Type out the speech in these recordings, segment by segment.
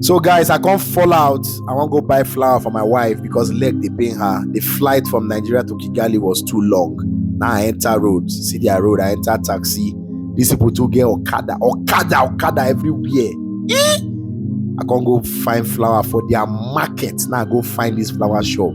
So guys, I can't fall out. I want to go buy flour for my wife because leg they pain her. The flight from Nigeria to Kigali was too long. Now I enter road, see their road, I enter taxi. These people too get Okada, Okada, Okada everywhere. Eh? I can't go find flour for their market. Now I go find this flour shop.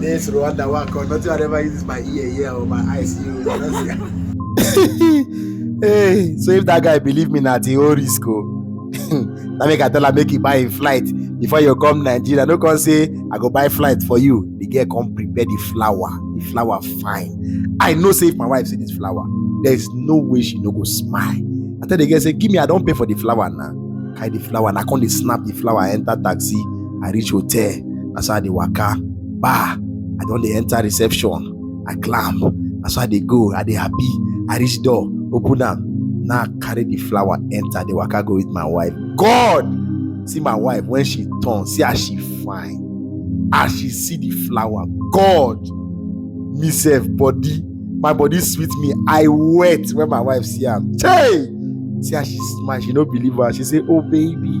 This Rwanda work, or nothing I ever uses my ear, ear or my eyes. You hey, so if that guy believe me, not the whole risk. Oh. Now make I tell her make you buy a flight before you come Nigeria. No come say I go buy flight for you. The girl come prepare the flower. The flower fine. I know say if my wife see this flower, there is no way she no go smile. I tell the girl say give me I don't pay for the flower now. Carry the flower and I come dey snap the flower enter taxi. I reach hotel. Na so I dey waka. Bah! I don dey enter reception. I climb. Na so I dey go. I dey happy. I reach door. Open am. Now I carry the flower enter. Dey waka go with my wife. God! See my wife when she turn. See as she fine. As she see the flower. God! Me sef body. My body sweet me. I wet when my wife see am. Hey! See as she smile. She no believe am. She say, Oh baby,